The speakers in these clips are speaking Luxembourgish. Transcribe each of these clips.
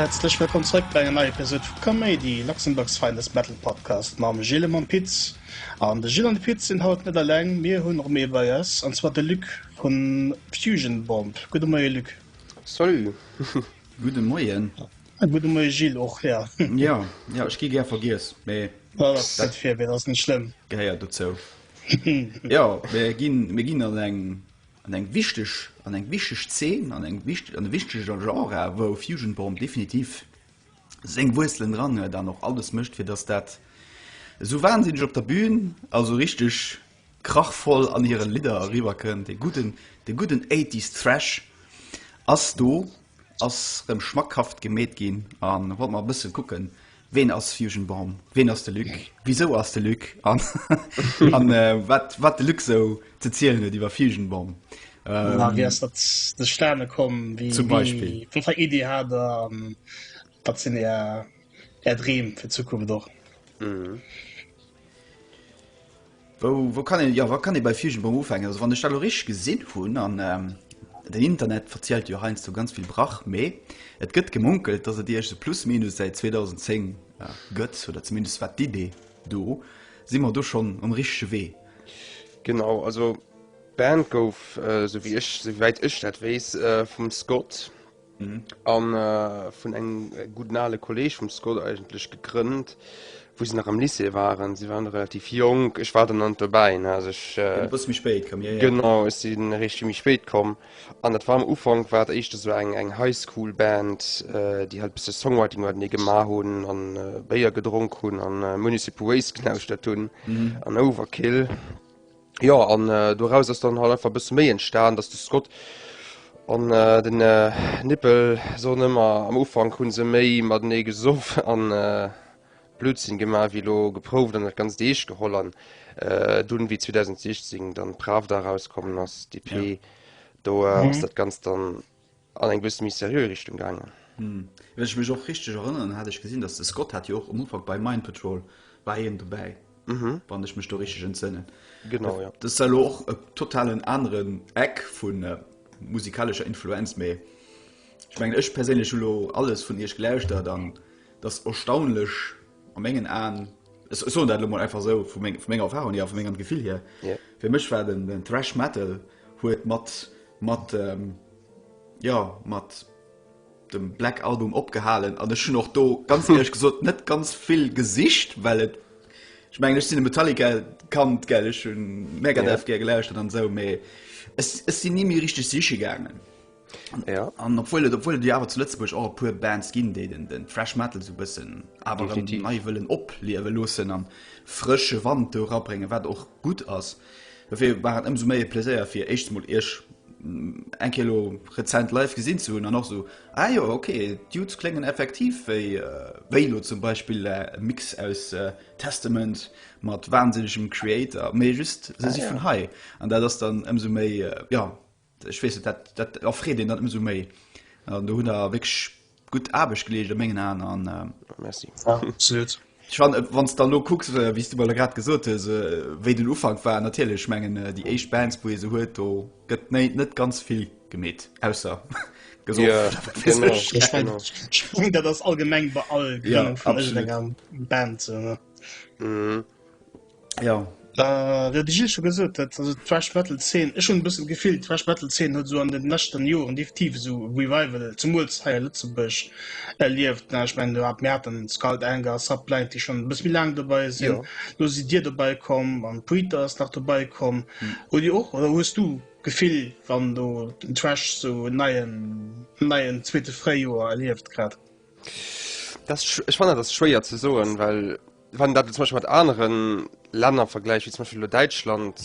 Häerzlech wëllkomm zréck bei enger neier Episode vu Kaméidi, Luxembourg's Finest Metal Podcast mam Gilles a mam Piz. An de Gilles an de Piz sinn haut net eleng, mir hunn och méi bei eis, an zwar de Luc vu Fusion Bomb. Gudde Moie Luc. Salut. Gudde Moien. Äh gudde Moie Gilles och, ja. Ja, ja ech gi gär vergiess, mee. Well dat ass net fir, mee dat ass net schlëmm. Gehéiert dozou. Jo, mir ginn, mir ginn an eng, an eng wichteg, an eng wichteg Zeen, an eng wichteg, an e wichteger Genre, wou Fusion Bomb definitiv seng Wuerzelen dran huet an och alles mécht, fir datt dat esou wahnsinneg op der Bühn, also richteg krachvoll an hire Lidder eriwwerkënnt. Dee gudden, dee gudden Eighties Thrash ass do. Ass rem schmackhaft gemeet gin an wollt mer e bëssen kucken ween ass Fusion Bomb, ween ass de Luc, wisou ass de Luc an an wat wat de Luc sou ze zielen huet iwwer Fusion Bomb. Wéi ähm, ass dat zustane komm? Wéi, zum Beispill. Wéi, wat fir Idee hat der? An wat sinn är, är Dreem fir d'Zukunft och? Mhm. Wou, wou kann een, jo, wat kann ee bei Fieschenbong ufänken? Also wann ech dat elo richteg gesinn hunn, an den Internet verzielt jo heiansdo ganz vill Brach, mee et gëtt gemunkelt, datt et Iech se plus minus säit 2010 gëtt, oder zumindest wat d'Idee do, si mer do schonn um richtege Wee? Genau, also d'Band gouf, esou wéi ech, esou wäit ech dat weess, vum Scott. An vun engem gudden ale Kolleg vum Scott eigentlech gegrënnt, wou se nach am Lycée waren. Si waren relativ jonk, ech war dann nach net dobäi, ne, also ech, Sinn e bësse méi spéit komm, jo, jo. Genau, ech sinn eréischt vill méi spéit komm. An dat war am Ufank war dat éischter esou eng, eng Highschool-Band, déi halt e bësse Songwriting matenee gemaach hunn a Béier gedronk hunn a Municipal Waste gelauschtert hunn an Overkill. Jo an äh, doraus ass dann halt einfach bësse méi entstan, dats de Scott an äh, den äh, Nippel soen ëmmer am Ufank hunn se méi matenee gesoff an äh, Blödsinn gemaach wéi lo geprouft an dat ganzt eescht geholl an äh, dunn wéi 2016 dann Pravda rauskommen ass, d'EP, do äh, ass dat ganzt dann An eng bësse méi seriö Richtung gaangen. Wann ech mech och richteg erënneren, hat ech gesinn, datt de Scott hat jo och um Ufank bei Mind Patrol war hien dobäi, wann ech mech do richteg entsënnen. Genau, jo. Dëst war elo och e totalen aneren Eck vu musikalescher Influenz, mee ech mengen, ech perséinlech hu lo alles vun iech gelauschtert an et ass erstaunlech, A mengen Aen, ech soen dat elo mol einfach esou, vu menger Erfahrung hier a vu mengem Gefill hier, fir mech war den Thrash Metal huet mat mat ähm, jo, mat dem Black Album opgehalen an ech hunn och do ganz ehrlech gesot net ganz vill gesicht, well et ech mengen ech sinn e Metallica-Kand, gell, ech hunn Megadeth gär gelauschtert an esou, mee ech sinn ni méi richteg siche gaangen. An obwuel et obwuel et jo awer zu Lëtzebuerg och e puer Bands ginn, déi den den Thrash Metal sou bëssen awer erëm Definitiv. nei wëllen opliewe loossen an frësche Wand do rabréngen, wat och gutt ass. Dofir war et ëmsou méi e Pleséier fir éischt emol iech eng Kéier elo rezent live gesinn ze hunn an och sou, ah jo ok, d'Dudes kléngen effektiv wéi wéi elo zum Beispill e Mix aus Testament mat wahnsinnegem Kreator, mee just se si vun hei an dat ass dann ëmsou méi jo. Ech weess et, dat erfreet een dann ëmsou méi. An do hunn der wierklech gutt Aarbecht geleescht a mengen Aen. An Merci. Ja, absolut. Ech fan, wann s de elo kucks, wéi s de mol grad gesot hues, wéi den Ufank war, natierlech, ech mengen déi éischt Bands, wou ee se huet, do gëtt net ganz vill gemeet, ausser gesoff. Ech mengen dat ass allgemeng bei all Grënnung vun iergendenger Band esou. Ja. Äh, dat ech scho gesot huet, also d'Thrash Metal Zeen, ech hunn e bëssen d'Gefill, d'Thrash Metal Zeen huet esou an den leschten Joren definitiv esou e Revival, zemools hei a Lëtzebuerg, erlieft. Ech mengen, do hat mir haten Skull Anger, Subblind, déi schonn e bësse méi laang dobäi sinn. Jo. Lo sidd Dir dobäi komm an Predator ass nach dobäi komm. Hutt Dir och oder hues du d'Gefill, wann do den Thrash esou en neien, en neien zweete Fréijoer erlieft grad? Dat ass, ech fannen dat ass schwéier ze soen, well. Wann du dat zum Beispiel mat aneren Länner vergläich, wéi zum Beispiel lo Däitschland,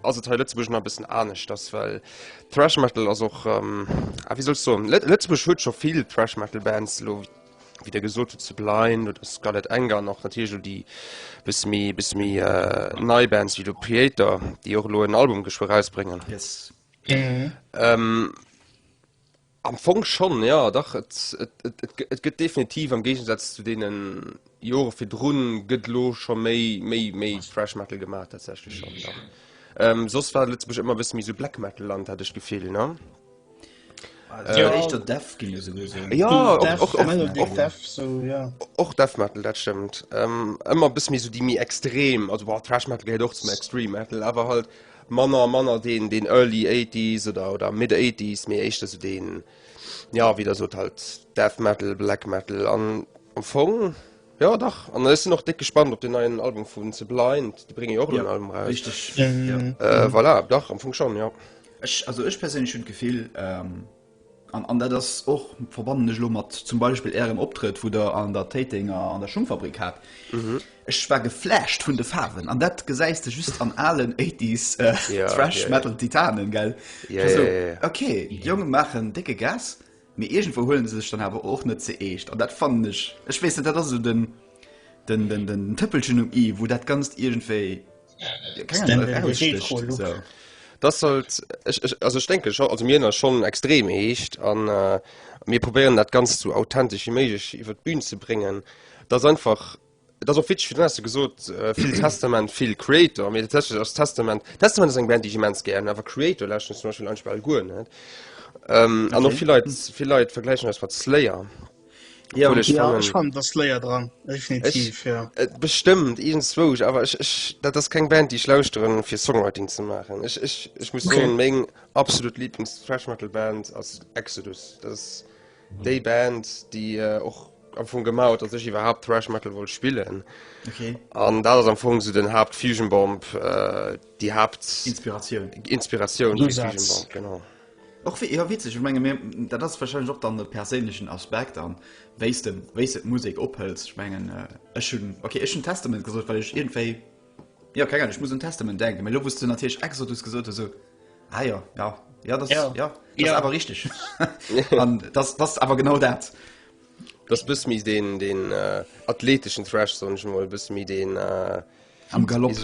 ass et hei Lëtzebuerg nach e bëssen aneschters, well Thrash Metal ass och, ah wéi soll ech soen, Lët, Lëtzebuerg huet scho vill Thrash Metal Bands elo, wéi der gesot hutt, Sublime oder Scarlet Anger an och natierlech elo déi bësse méi, bësse méi nei Bands wéi elo Kreator, déi och elo en Album geschwë erausbréngen. Yes. Am Fong schonn, jo, dach. Et, et, et, et, et gëtt definitiv, am Géigensaz zu deenen Jore virdrun, gëtt elo scho méi, méi, méi Thrash Metal gemaach, tatsächlech schonn, dach. Ähm, soss war Lëtzebuerg ëmmer e bësse méi sou Black Metal Land, hat ech d'Gefill, ne? Ass jo éischter Death ginn, esou gesinn. Jo, och, Death, och, och, Melodic och, Death, so, ja. och Death Metal, dat stëmmt. Ähm, ëmmer e bësse méi sou déi méi extrem, also, bon, Thrash Metal gehéiert och zum Extreme Metal, awer halt manner a manner deen deen early eighties oder oder mid eighties méi éischter sou deen ja wéi der sot halt death metal black metal an am fong jo dach an ech sinn och déck gespannt op den neien album vun ze blind déi brénge jo och en neien album raus Richteg, ja. voilà dach am fong schonn jo. Ech also ech perséinlech hunn d'Gefill, An dat ass och, verbannen ech elo mat zum Beispill Ärem Optrëtt, wou Der an der Téitenger an der Schungfabrik hat, ech war geflasht vun de Faarwen. An dat gesäis de just an alen Eighties Thrash-Metal-Titanen, gell? Also, ok, d'Jonge maachen décke Gas, mee iergendwou huelen se sech dann awer och net ze eescht. An dat fannen ech, ech weess net, dat ass esou den Tëppelchen um i, wou dat Ganzt iergendwéi. denke schon also mir schon extrem heescht an äh, mir probieren dat ganz zu authentisch wie méigich iwwer d'Bün ze bringen das einfach das op Witsch du hast gesot äh, viel Testament viel Creator mir als Testament Testament eng Band die immens gern awer Creator lachen zum Beispiel ein Spell guer net ähm, an noch viel Leute, viel Leute vergleichen als wat Slayer. Jo, Cool, ech Ja, fannen- ech fan dass Slayer dran, definitiv, ja. Et bestëmmt irgendswouch, awer ech, ech, dat ass keng Band, déi ech lauschteren, fir Songwriting ze maachen. Ech, ech, ech muss Okay. soen, meng absolut Lieblings-Thrash-Metal-Band ass Exodus. Dat ass déi Band, déi äh, och am Fong gemaach huet, dass ech iwwerhaapt Thrash-Metal wollt spillen. Okay. An dat ass am Fong so den Haapt Fusion Bomb, äh, déi Haapt Inspiratioun. Inspiratioun fir Usaz. Fusion Bomb, genau. Och wéi, jo witzeg, ech menge mir, dat ass wahrscheinlech och dann e perséinlechen Aspekt an wéi s de, wéi s de d'Musek ophëls. Ech mengen ech hunn, ok ech hunn Testament gesot, well ech iergendwéi, jo keng Ahnung, ech muss un Testament denken. Mee elo wou s de natierlech Exodus gesot hues, esou, ah jo, jo, jo dat, jo, dat ass awer richteg. An dat ass awer genau dat. Dat ass e bësse méi deen, deen athleteschen Thrash, soen ech emol, e bësse méi deen, am Galopp.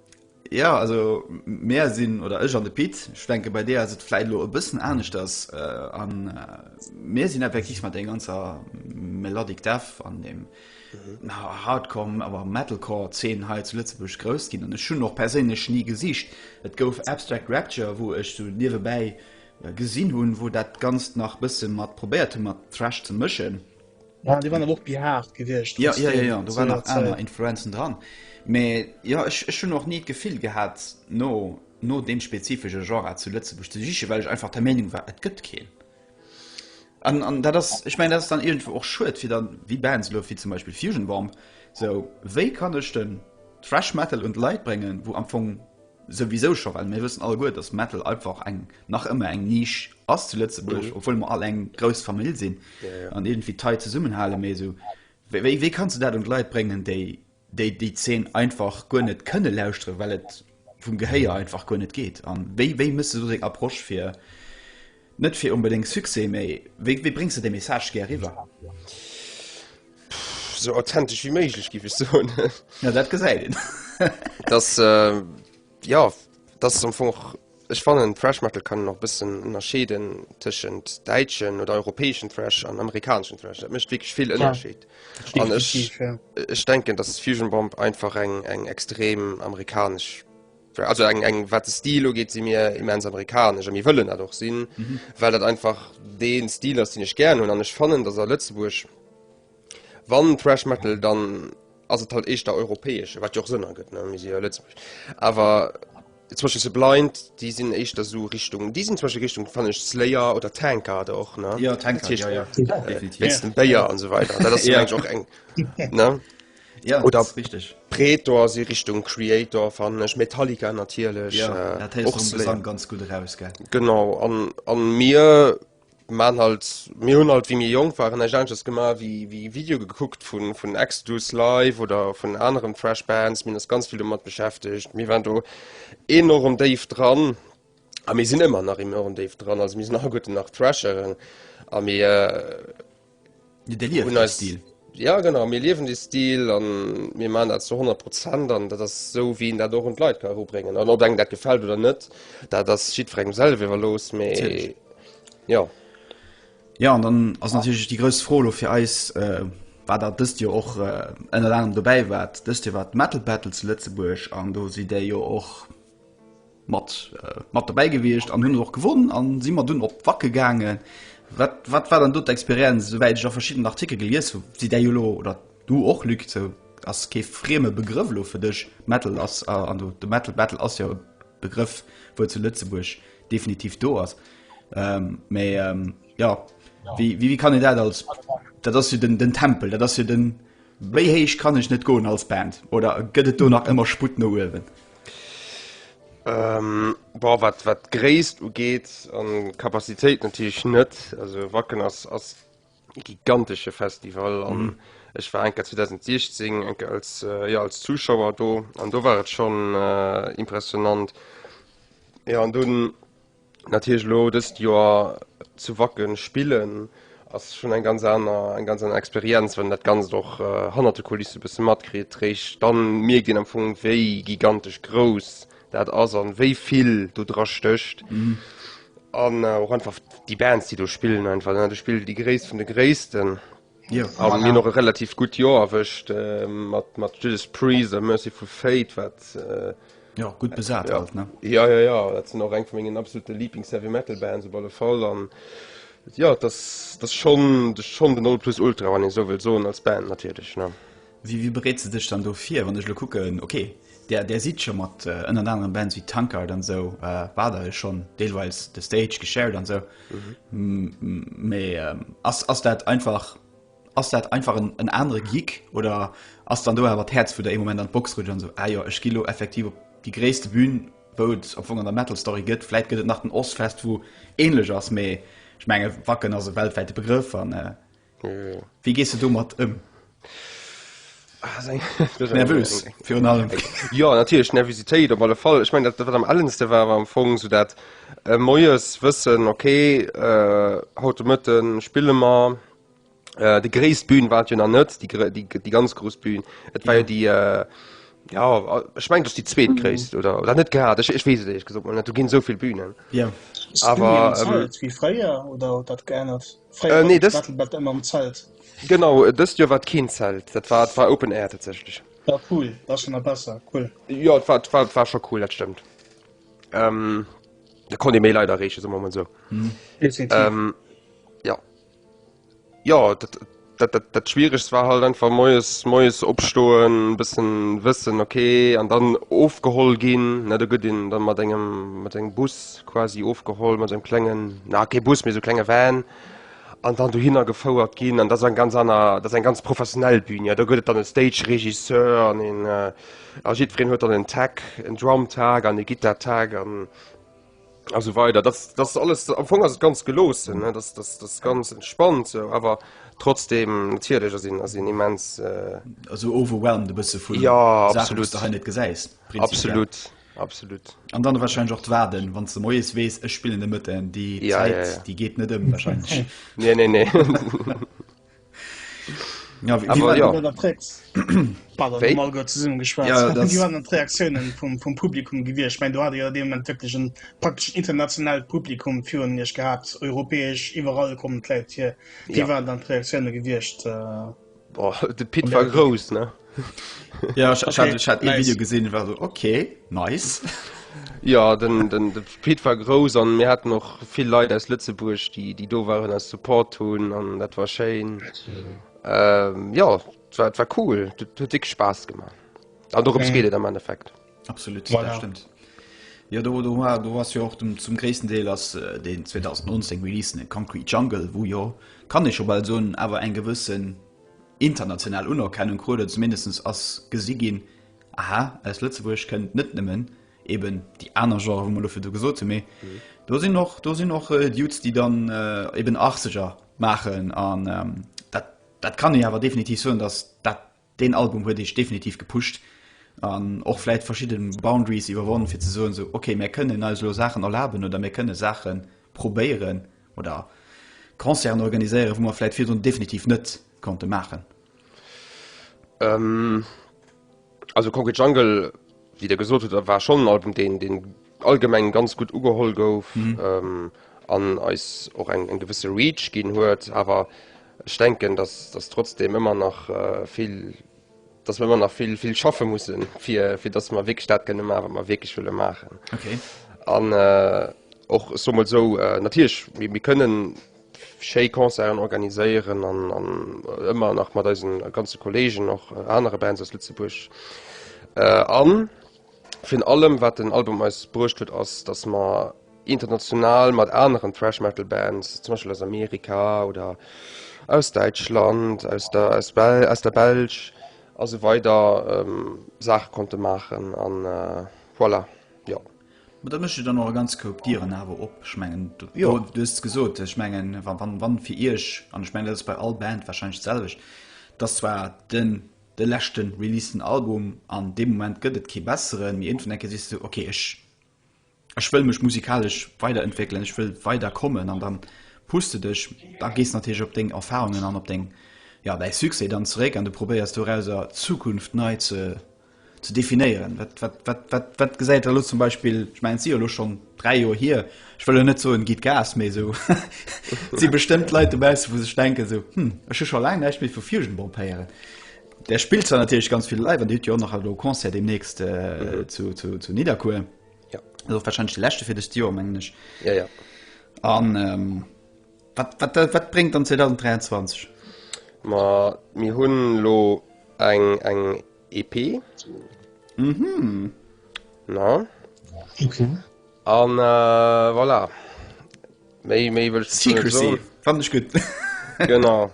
Ja also mär sinn oder ech an de Pit schwenke bei dé as et fläit lo e bëssen anescht ass an äh, mär äh, sinn effektiv mat eng ganzer Melodic Death an dem mhm. Hardcore awer Metalcore 10 hei zu Lëtzebusch grouss ginn an ech hunn och perséinlech nie gesicht. Et gouf Abstract Rapture, wou ech so niewebäi äh, gesinn hunn, wou dat ganz nach bësse mat probéiert mat Thrash ze mëschen. Ja, die waren och behaart gewichtcht ja, ja, ja, ja, du waren nach aner Influenzen dran. Me ja ech ech hun och nie d'Gefill gehat no no dem spezifische Genre zu Lëtzebusch ze siche, well ech einfach der Meinung war et gëtt keen. An, an dat ass, ich mein dat dann irgendwo och schuet fir dann wie Bands lo wie zum Beispiel Fusion Bomb so wéi kann ech den Thrash Metal und Leiit brengen, wo am Fong Souwisou scho well mir wëssen alleguer, dass Metal einfach eng, nach ëmmer eng Niche ass zu Lëtzebuerg, obwuel mer all eng grouss Famill sinn an iergendwéi tight zesummenhalen. Mee esou, wéi, wéi kanns de dat un d'Leit bréngen, déi, déi déi Zeen einfach guer net kënne lauschteren, well et vum Gehéier einfach guer net geet? An wéi, wéi méchs de do deng Approche fir. Net fir onbedéngt Succès, mee wéi, wéi bréngs de de Message gär eriwwer? Pff, sou authentech wéi méiglech giff ech soen. Ja, dat gesäit een. dass, äh, ja, dass es am Fong och, ech fannen, Thrash Metal kann een och e bëssen ënnerscheeden tëschent däitschen oder europäeschen Thrash an amerikaneschen Thrash. Dat mécht wierklech vill Ënnerscheed. An ech, Definitiv, ja. ech denken, dass Fusion Bomb einfach eng, eng extrem amerikanesch Also eng, eng wat de Stil ugeet, si mir immens amerikanesch a mir wëllen dat och sinn, mhm. well dat einfach deen Stil ass, den ech gern hunn an ech fannen, dats a Lëtzebuerg wann Thrash Metal dann ass et halt eischter europäesch, wat jo och Sënn ergëtt ne mir si jo Lëtzebuerg. Awer zwësche se blind, déi sinn eischter so Richtung déi sinn zwësche Richtung fannen ech Slayer oder Tankard och ne? Ja Tankard, ja, ja. Äh, Definitiv. Wéinst dem Béier an esou weider. Dat ass jo Ja. eigentlich och eng ne. Ja, oder richtig Pretor se Richtung Creator fan ech Metallica natierlech ja, äh, och zusammen ganz gut raus ge Genau an, an mir man halt mir hun halt wie mir jong waren Agents gemacht wie wie Video geguckt vun vun Exodus live oder vun anderen Fresh Bands min ass ganz viel mat beschäftigt mir waren do enorm Dave dran a mir sinn immer nach im Dave dran also mir nach guten nach Trasheren a mir äh, Ja genau mir liewen de Stil an mir man dat zu 100 Prozent an dat ass sou wéi een dat och un d'Leit ka erubréngen. An ob engem dat gefält oder net, dat ass jiddwerengem selwer iwwerlooss, mä jo. Ja an dann ass natierlech déi grouss Fro elo fir eis, wat dat dëst Joer och ënnert anerem dobäi war, dëst Joer war d'Metal Battle zu Lëtzebuerg an do sidd Där jo och, Mat mat dobäi gewiescht an hunn et och gewonn an si mat dunn op Wacken gaangen. Wat wat war dann do d'Experienz? Esouwäit ech a verschiddenen Artikel gelies hu si däi jo elo oder du och Luc sou ass kee frieme Begrëff elo fir dech Metal ass an do de Metal Battle ass jo e Begrëff wou zu Lëtzebuerg definitiv do ass mee jo wéi wéi kann een dat als dat ass jo den den Tempel dat ass jo den Méi héich kann ech net goen als Band oder gëtt et do nach ëmmer Sputt no uewen? Ähm, boah, wat, wat Gréisst ugeet an Kapazitéit natierlech net. Also Wacken ass, ass e gigantesche Festival an mhm. ech war enker 2016 enker als, äh, ja, als Zuschauer do an do war et schon äh, impressionant. Ja an dunn Natierlech elo dëst Joer zu Wacken spillen ass schonn eng ganz aner eng ganz aner Experienz, wann een dat Ganzt och hannert de Kulisse e bësse matkritt. Réischt dann mierkt een am Fong wéi gigantesch grouss dat ass an wéi vill do dra stécht an och einfach déi Bands déi do spillen einfach. Du spillen déi Gréisst vun de Gréissten. An mir hunn och e relativ gutt Joer erwëscht mat Judas Priest a Mercyful Fate, wat. Jo, gutt besat alt, ne? Jo, jo, jo, dat sinn och eng vu mengen absolute Lieblings-Heavy-Metal-Bands op alle Fall. An jo, et ass schonn den Nonplusultra, wann een esou wëllt soen, als Band natierlech. Wéi, wéi bereets de dech dann do vir? Wann ech elo kucken, ok, där, där sidd scho mat ënnert anerem Bands wéi Tankard an esou wader e schonn deelweils de Stage geshared an esou. Mee ass, ass dat einfach, ass dat einfach en, en anere Gig oder ass dann do awer d'Häerz, wou der ee Moment an d'Box rutscht an esou, ah jo, ech gi lo effektiv op déi gréisste Bün, wou et am Fong an der Metal-Story gëtt? Vläit gëtt et nach den Ozzfest, wou änlech ass, mee ech menge Wacken ass e weltwäite Begrëff an. Wéi gees de domat ëm? Nervös virun allem? Jo, natierlech Nervositéit op alle Fall. Ech mengen, dat wat am ellendste war, war am Fong esou dat moies wëssen, okay, haut de Mëtte spille mer. Déi gréisst Bühn war et jo nach net, déi ganz grouss Bühn. Et war jo déi, jo, ech mengen, et ass déi zweetgréisst, oder? Oder net grad, ech weess et éierlech gesot mol net, do ginn esou vill Bühnen. Ass d'Bühn an der Zalz wéi fréier oder huet dat geännert? Fréier äh, nee, war das... Battle immer am Zelt. Genau, äh, dëst Joer wat keen Zelt. Dat war, war Open Air tatsächlich. Ja, cool, war schon besser cool. Ja war, war, war schon cool, dat stimmt. Ähm, da kon de méi leider reche so moment so. Mhm. Ähm, ja Ja dat, dat, dat, dat schwierigst war halt einfach moes moes opstoen bisssen wëssen okay an dann ofgeholl ginn net der gëtt den dann mat engem mat engem Bus. quasi ofgeholl mat engem klengen, na kee Bus, mee sou klenge Van an dann dohinner gefouert ginn. An dat ass eng ganz aner, dat ass eng ganz professionell Bühn. Jo, do gëtt et dann e Stage-Regisseur an een, a jiddwereen huet dann en Tag, en Drum-Tag an e Gittar-Tag an, a sou weider. Dat, dat ass alles, am Fong ass et ganz geloossen, dat ass, dat ass ganz entspannt sou, awer trotzdeem, natierlech ass een, ass een immens, Also overwhelmed e bësse vun Saachen, déi s de hei net gesäis, prinzipiell. Absolut. Absolut. An dann wahrscheinlich auch warden wann du moes wees es spielen de Mëtten die ja, Zeit, ja, ja. die geht net ëm wahrscheinlich nee, nee, nee. ja, wie, Aber, wie ja. Reaktionen vom, vom Publikum gewir ich mein, du hatte ja dem wirklich ein praktisch international Publikum führen nicht gehabt europäisch überall kommen hier wie ja. waren dann Reaktionen gewircht äh Boah, de Pit war grouss, ne? Ja, ich, ich, hatte, ich hatte nice. ein Video gesehen, ich war so, okay, nice. Ja, den, den, den Pit war grouss und wir hatten noch viele Leute aus Lützeburg, die, die da waren, als Support tun und das war schön. Ähm, ja, das war, das war cool, das hat wirklich Spaß gemacht. Und darum okay. geht es im Endeffekt. Absolut voilà. stimmt. Ja do, do, do was jo och dem, zum gréessten Deel ass äh, den 2019 Release den Concrete Jungle, wou jo kann ech op all soen awer eng gewëssen international Unerkennung krut zumindest ass gesi ginn aha aus Lëtzebuerg kënnt net nëmmen eben die aner Genre wo dofir du gesot méi mhm. do sinn noch do sinn noch äh, Dudes, die dann äh, eben 80er machen an ähm, dat, dat kann ich awer definitiv soen, dass dat Deen Album huet eech definitiv gepusht an och vläit verschidden Boundaries iwwerwonn fir ze soen sou ok mär kënnen eis elo Saachen erlaben oder mär kënnen Saachen probéieren oder Concerten organiséieren wou mer vläit virdrun definitiv net konnte maachen. Also Concrete Jungle. Wéi der gesot hutt, war schonn en Album, deen allgemeng ganz gutt ugeholl gouf an eis och eng gewësse Reach ginn huet. Awer ech denken, datt trotzdeem ëmmer nach vill, datt mer ëmmer nach vill, vill schaffe mussen, fir datt mer wierklech dat kënne maachen, wat mer wierklech wëlle maachen. An och, ech soe mol esou, natierlech, mir kënnen schéi Concerten organiséieren an ëmmer nach mat eise ganze Kolleegen, och anere Bands aus Lëtzebuerg a virun allem wat den Album eis bruecht huet ass, datt mer international mat aneren Thrash Metal Bands, zum Beispill aus Amerika oder aus Däitschland, aus der Belsch a sou weider Saache konnte maachen an voilà, jo. Ma da mécht Dir dann och e ganz Koup Dieren awer op. Ech mengen, do, jo. do, du hues et gesot, ech mengen, wa, wann, wann fir Iech, an ech mengen, dat ass bei all Band warscheinlech d'selwecht, dass zwar den, de leschte releaseden Album, an dee Moment gëtt et kee besseren, mee iergendwann eng Kéier sees du, okay, ech, ech wëll mech musikalesch weiderentwéckelen, ech wëll weider kommen, an da pusht de dech, da gees de natierlech op deng Erfarungen an op deng, ja, däi Succès dann zeréck an du probéiers dorausser d'Zukunft nei ze ze definéieren. Wat, wat, wat, wat, wat gesäit Der elo zum Beispill, ech mengen et si jo elo schonn dräi Joer hier, ech wëll elo net soen, gitt Gas, mee esou et si bestëmmt Leit dobausse wou sech denken esou, hm, ech hu scho laang näischt méi vu Fieschenbomb héieren. Där spillt zwar natierlech ganz vill live an Dir hutt jo och nach elo e Concert deemnächst äh, mhm. zu, zu, zu Nidderkuer. Ja. Also wahrscheinlech de leschte fir dëst Joer mengen ech. Ja, ja. An ähm, Wat, wat, wat bréngt dann 2023? Ma mir hunn elo eng, eng EP. Mhm. Na? Okay. An äh, voilà. Méi, méi wëll ech dazu net Secrecy, soen. fand ech gutt. Genau.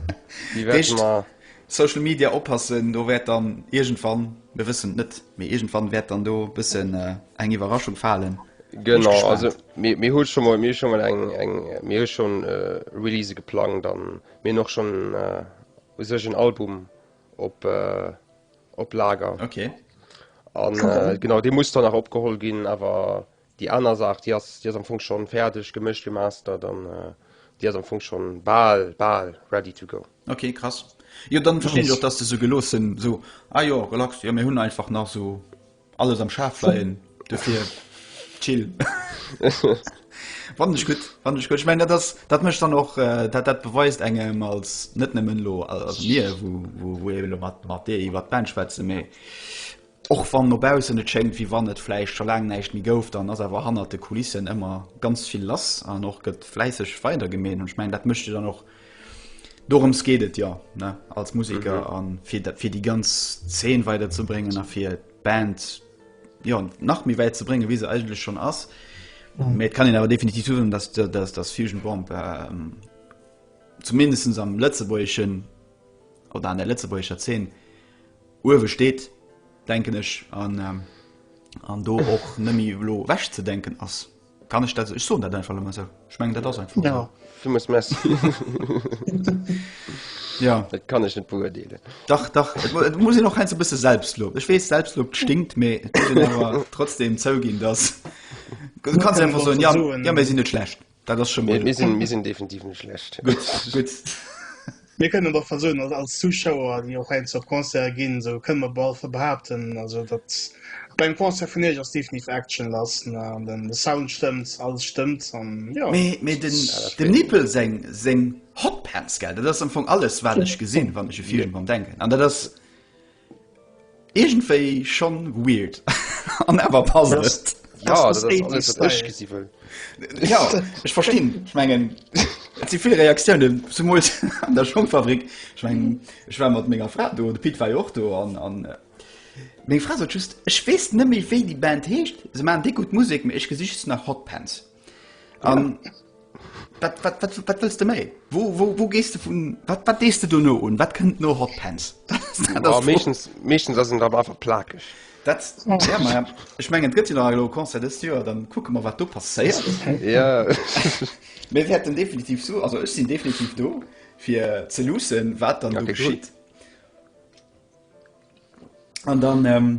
Déi wäerte Heescht, mer. Social Media oppassen, do wäert dann iergendwann, mir wëssen et net, mee iergendwann wäert dann do e bëssen äh, eng Iwwerraschung falen. Bin ech Genau, also gespaant. Mir hu scho mol, mir hu scho mol eng, eng, mir hu schon Release geplangt an mir hunn och schon u sech en Album op, op Lager. Okay. An genau, dee muss dann nach opgeholl ginn, awer déi aner Saach, déi ass, déi ass am Fong schon fäerdeg, gemëscht, gemastert an déi ass am Fong schon bal, bal ready to go. Okay, krass. Jo, dann verstinn ech och, dass de sou geloossen, sou, ah jo, relax, jo, mir hunn einfach nach sou. Alles am Schaf leien dofir chill Wann ech gutt wann ech gutt ich mein, das, dat mecht dann och äh, dat dat beweist engem als net nëmmen lo als mir wo, wo, wo eben mat mat dee iwwer d'Band schwätze méi och wann nobausen et schenkt wie wann net fleisch scho lang neicht mi gouf dann ass awer hannert de Kulissen ëmmer ganz vill lass an och gëtt fläisseg weider gemeen hunn ich mein dat mecht dann och Dorëms geet et jo ne als Musiker mhm. an fir dat fir déi ganz Zeen weider ze bréngen a fir d'Band jo nach méi wäit ze brénge wéi se eigenlech schon ass. Mhm. Et kann en awer definitiv zuen, dass dass das Fusion Bomb ähm, zumindest am Lëtzebuergschen oder an der Lëtzebuerger Zeen uewe steet denken ech an ähm, an do och nëmi lo wäch ze denken ass. Kann ech dat esou? Ech soen dat einfach elo mol esou. Ech mengen, dat ass einfach esou. Ja. Du muss Merci. Ja. Dat kann ech net beurdeelen. Dach, dach, et mu- et muss een och heiansdo e bësse Selbstlob. Ech weess, Selbstlob stinkt, mee et muss een awer trotzdem zouginn, dass. Du kannst kann einfach man soen, einfach ja, soen. ja, mir sinn net schlecht. Dat ass scho Mir, mal. mir, sinn, mir sinn definitiv net schlecht. Gutt, gutt. Mir kënnen dach bal soen, als Zuschauer, déi och heiansdo op Concerte ginn, sou kënne mer bal behaapten, also datt bei engem Concert vun Iech ass definitiv Action lass, de Sound stëmmt, alles stëmmt an jo. Mee dem Nippel seng Hotpants, gell, dat ass am Fong alles, wat ech gesinn, wann ech e Film dran denken. An dat ass. Iergendwéi schonn weird an awer passt et. Jo, dat ass alles wat ech gesi wëll. Jo, ech verstinn. Ech mengen, et si vill Reaktioune zemools an der Schongfabrik. Ech mengen, ech war mat menger Fra do, de Pit war jo och do an meng Fra sot just, ech weess net méi wéi déi Band heescht, se maachen déck gutt Musek, mee ech gesi just nach Hotpants. Um, wat, wat, wat, wat willst du méi? Wo, wo, wo gehst du vun wat, wat dees du do no un? Wat kënnt no Hot Pants? méchens méchens ass en da awer plakeg. Dat ja, ma, ich mengen gëtt nach lo Konzer des Joer, dann kucke mer wat du passéiert. ja. Mir werden definitiv so also ech sinn definitiv do fir ze lussen, wat dann ja, geschitt. An dann ähm,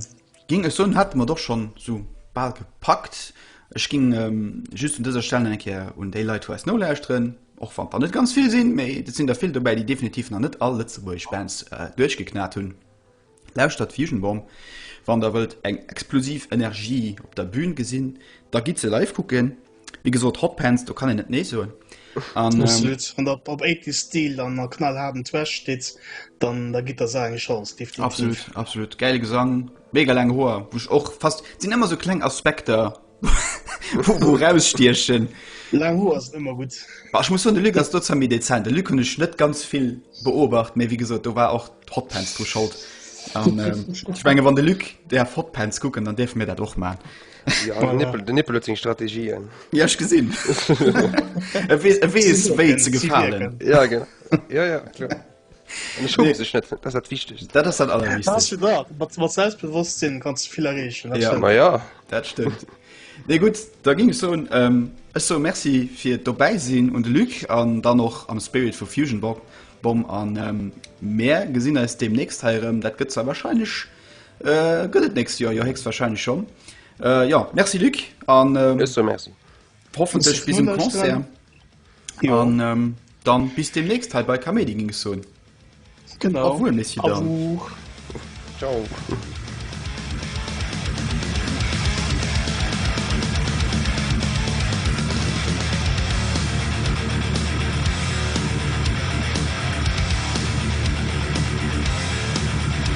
ging ech soen, hat mer doch schon so bal gepackt. Ech ging ähm, just un dëser Stelle eng Keer un déi Leit vu eis nolauschteren, och wann der net ganz vill sinn, méi dat sinn der vill dobäi, déi definitiv nach net all lëtzebuergesch Bands äh, duerchgeknat hunn. Lauschtert Fusion Bomb, wann der wëllt eng explosiv Energie op der Bühn gesinn, da gitt se live kucken. Wie gesot Hotpants, do kann en net nee soen. An ähm, op, op 80 Stil an a knall haben Trash steet, dann da gitt der se eng Chance definitiv. Absolut, absolut. Geile Gesang, mega lang Hoer, woch och fast sinn ëmmer so kleng Aspekter wo rausstiechen. Lang Hoer ass ëmmer gut. Ba, ich muss hun de Lü ass dozer méi dezent. De Lü hun ech net ganz vill beobacht, méi wie gesot, do war och Hotpants dru schold. An ähm, ich menge wann de Lü der Hotpants kucken, dann deef mir dat och man. Den Nippel huet seng Strategien. Ja ech gesinn. E weess wéi ze gefalen. Ja genau. Ja ja kloer. An ech schumme sech net, dat ass dat Wichtegst. Dat ass dat Allerwichtegst. Mat Selbstbewosstsinn kanns du vill erreechen. Ma jo, dat stëmmt. Nee gutt, da géing ech soen, ech soe Merci fir d'Dobäisinn un de Luc an dann och am Spirit vu Fusion Bomb an mir gesinn eis deemnächst hei erëm. Dat gëtt zwar warscheinlech. Gëtt et nächst Joer jo héchstwahrscheinlech schonn. Jo, Merci Luc an hoffentlech bis um Concert an dann bis deemnächst hei bei Kaméidi ginn ech soen. Genau. Awuer, Messier Dames. Ciao.